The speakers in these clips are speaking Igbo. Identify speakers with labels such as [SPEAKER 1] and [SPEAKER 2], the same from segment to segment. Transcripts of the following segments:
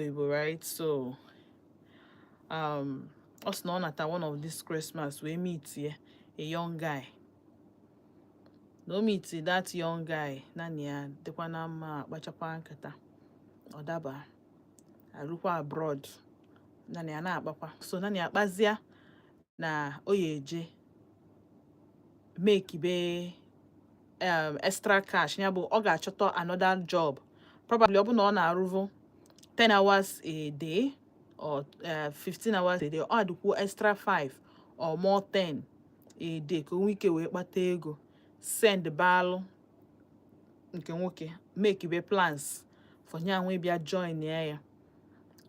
[SPEAKER 1] Igbo right so um, ọ sị na ọ nata one of this Christmas wee mitie a young guy na o mitie that young guy nya na ya dịkwa na mma akpachakwa nkata ọ daba ya rukwa abroad nya na ya na-akpakwa so nya na ya kpazia na o ya eje make be um, extra cash ya bụ ọ ga-achọta another job probably ọ bụ na ọ na-arụvu 10 hours a day or uh, 15 hours a day ọ adịkwuo extra 5 or more 10 a day ka o nwee ike wee kpata ego send baalụ nke nwoke make be plans for ya nwa ịbịa joinịa ya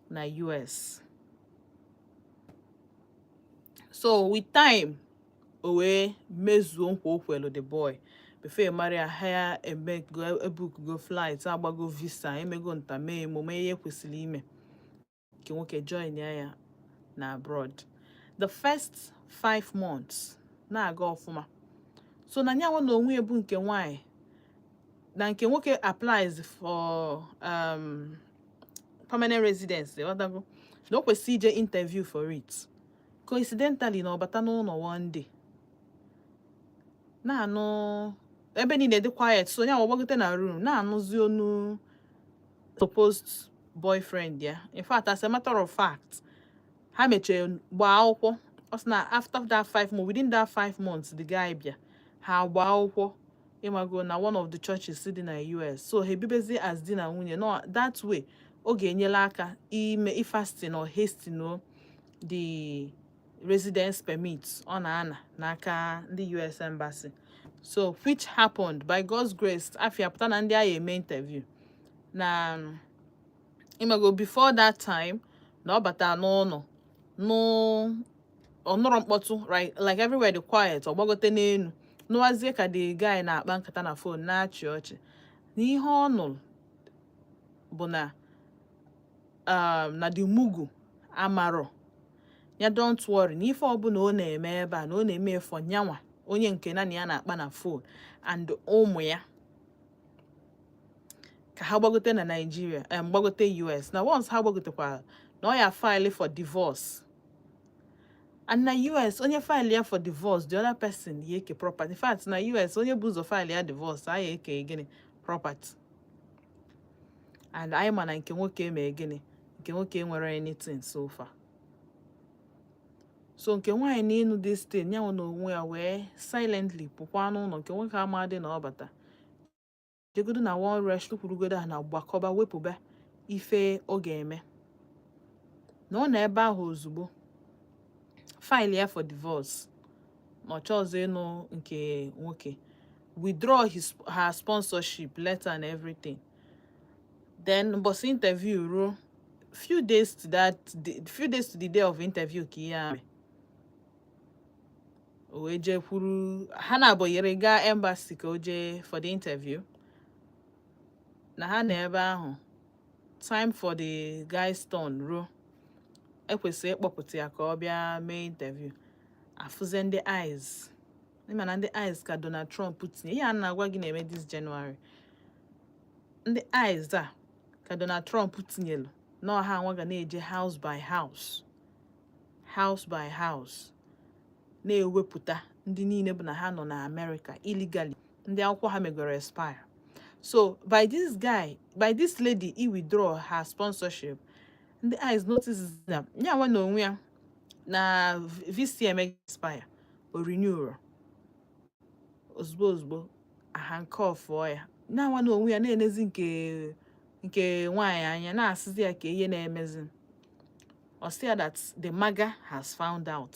[SPEAKER 1] na US so with time o wee mezuo nkwa o kwelu the boy before ị mara ihe a na-eme ebukugo flight agbago visa emego nta mee imo mee ihe e kwesịrị ime nke nwoke joinịa ya na abroad the first five months na-aga ọfụma so na nyanwa na onwe ya bụ nke nwanyị na nke nwoke applies for um, permanent residence ọdago na o kwesị ije interview for it coincidentally na ọ bata n'ụnọ one day na-anụ ebe niile dị quiet so nya agbagote na room na-anụzi onu supposed boyfriend ya in fact as a matter of fact ha mechaa gbaa akwụkwọ ọ sị na after that five months within that five months the guy bịa ha gbaa akwụkwọ ịmago na one of the churches dị na US so ha ebibezi as di na nwunye no that way ọ ga-enyelụ aka ime ifasten or hasten o the residence permit ọ na-ana n'aka ndị US embassy so which happened by God's grace afa ya pụta na ndị a ya-eme interview na ịmago before that time na ọ bata n'ụnọ na ọ nụrọ mkpọtụ like everywhere dị quiet ọ gbagote n'enu nụwazie ka the guy na-akpa nkata na phone na-achị ọchị na ihe ọ nụrụ bụ na um, na the mugu amarọ ya don't worry na ife ọbụla ọ na-eme ebe a na ọ na-eme for nyanwa onye nke nya na ya na-akpa na phone and ụmụ ya ka ha gbagote na Naịjirịa em um, gbagote US na once ha gbagotekwara na ọ ya file for divorce and na US onye faịlịa for divorce the other person ya eke property in fact na US onye bụ ụzọ faịlịa divorce a ya eke gịnị property and anyị ma na nke nwoke emee gịnị nke nwoke nwere anything so far so nke nwaanyị na ịnụ this thing ya nwa na onwe ya wee silently pụkwa n'ụlọ nke nwoke amadị na ọ bata jegodo na one rest kwurugodo a na gbakọba wepụba ife ọ ga-eme na ọ na ebe ahụ ozugbo file ya for divorce na ọ chọọzị ịnụ nke nwoke withdraw his her sponsorship letter and everything then mbọsị interview ruo few days to that few days to the day of interview ka ihe a mee o wee jee kwuru ha na-abụnyere gaa embassy ka o jee for the interview na ha nọ ebe ahụ time for the guy's turn ruo e kwesịrị ịkpọpụta ya ka ọ bịa mee interview afụzie ndị ICE ị ma na ndị ICE ka Donald Trump tinye ihe a na-agwa gị na-eme this January ndị ICE a ka Donald Trump tinyelu na ọ ha nwa ga na-eje house by house house by house na-ewepụta ndị niile bụ na ha nọ na Amerịka illegally ndị akwụkwọ ha megoro expire so by this guy by this lady i withdraw her sponsorship ndị ICE notice na ya nwa na onwe ya na visa eme expire o renewrọ ozugbo ozugbo a handcuffụọ ya ya nwa na onwe ya na-enezi nke nke nwaanyị anya na-asịzi ya kee ihe na-emezi ọ sị ya that the maga has found out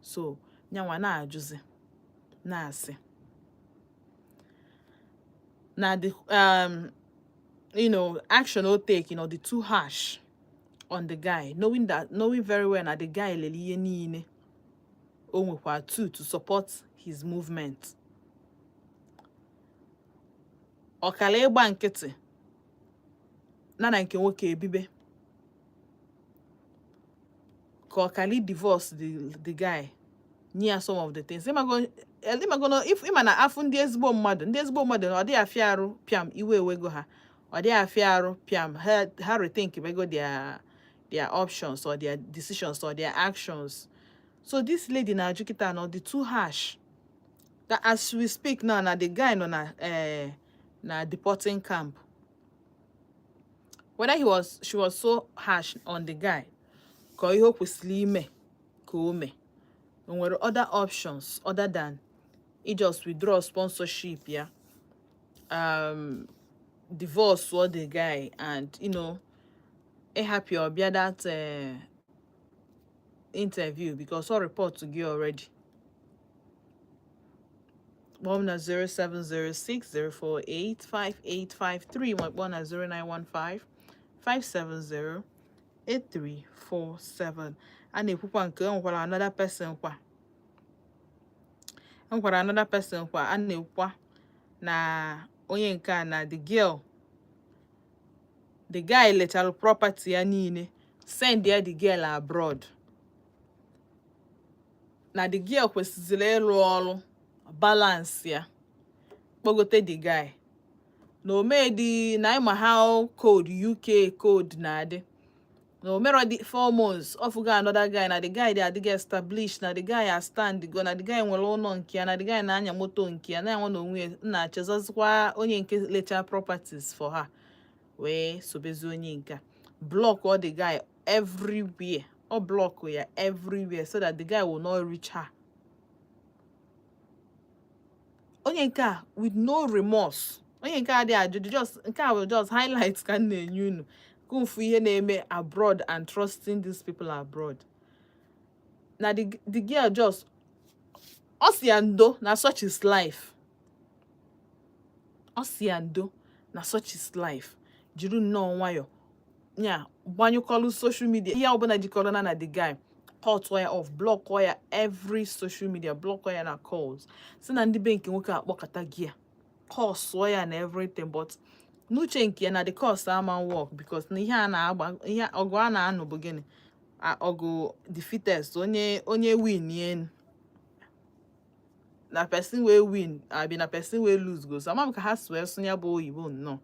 [SPEAKER 1] so nyanwa na-ajụzi na-asị na the um, you know action o take na ọ dị too harsh on the guy knowing that knowing very well na the guy lele ihe niile o nwekwa too to support his movement ọ kara ịgba nkịtị na na nke nwoke ebibe ka ọ kalị divorce the guy nye ya some of the things ịmago na ịma na a fụ ndị ezigbo mmadụ ndị ezigbo mmadụ na ọ dịghị afịa arụ pịam iwe ewego ha ọ dịghị afịa arụ pịam ha rethink bego their their options or their decisions or their actions so this lady na-ajụ kịta na ọ dị too harsh that as we speak now na the guy nọ na eh, na deporting camp whether he was she was so harsh on the guy ka ọ ihe o kwesịrị ime ka o mee o nwere other options other than i just withdraw sponsorship ya um, divorce ọ the guy and you know ịhapụ ya ọ bịa that uh, interview because ọ report gị already kpọọ m na 07060485853 ma kpọọ na 09155708347 a na-ekwukwa nke e nwekwara another person kwa e nwekwara another person kwa a na-ekwukwa na onye nke a na the girl the guy lechara property ya niile send ya the girl abroad na the girl kwesịziri ịrụ ọrụ balansịa kpọgote the guy na o medi na ị ma how cold uk cold na-adị na o merọ dị four months ọ fụgo another guy na the guy dị already established na the guy a stand go na the guy nwere ụlọ nke ya na the guy na-anya moto nke ya na-enwe na onwe na-echezọzikwa onye nke lecha properties for her wee sobezi onye nke a blọkụọ the guy everywhere ọ blọkụọ ya everywhere so that the guy will not reach her onye nke a with no remorse onye nke a dị ajụ just nke a bụ just highlight ka m na-enye unu ka unu fụ ihe na-eme abroad and trusting these people abroad na the, the girl just ọ sị ya ndo na such is life ọ sị ya ndo na such is life jiri nnọọ nwayọ ya gbanyụkọlụ soshal midia ihe ọbụla jikọrọ ya na the guy kọtụọ ya off blọkụọ ya every social media blọkụọ ya na calls sị na ndị be nke nwoke akpọkatago ya kọsụọ ya na everything but n'uche nke ya na the curse ama work because na ihe a na-agba ihe ọgụ a na-anụ bụ gịnị ọgụ the fittest onye onye win enu na person wey win abi na person wey lose go so ama m ka ha si asụ nya bụ oyibo nnọọ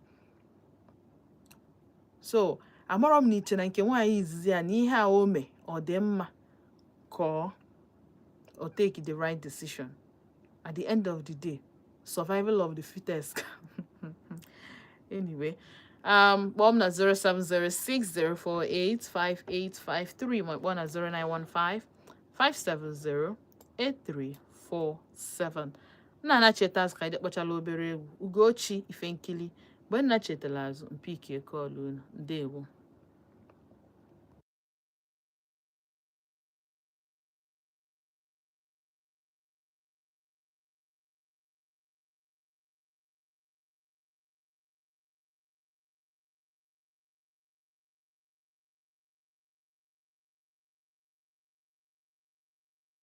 [SPEAKER 1] so amarọ m na i che na nke nwaanyị izizi a na ihe a o mee ọ dị mma ka ọ take the right decision at the end of the day survival of the fittest anyway um kpọọ m na 07060485853 ma kpọọ na 0915 570 8347 m na-anachita azụ ka anyị kpọchala obere egwu ugochi ife nkili mgbe m nachitara azụ m pick call unu ndewo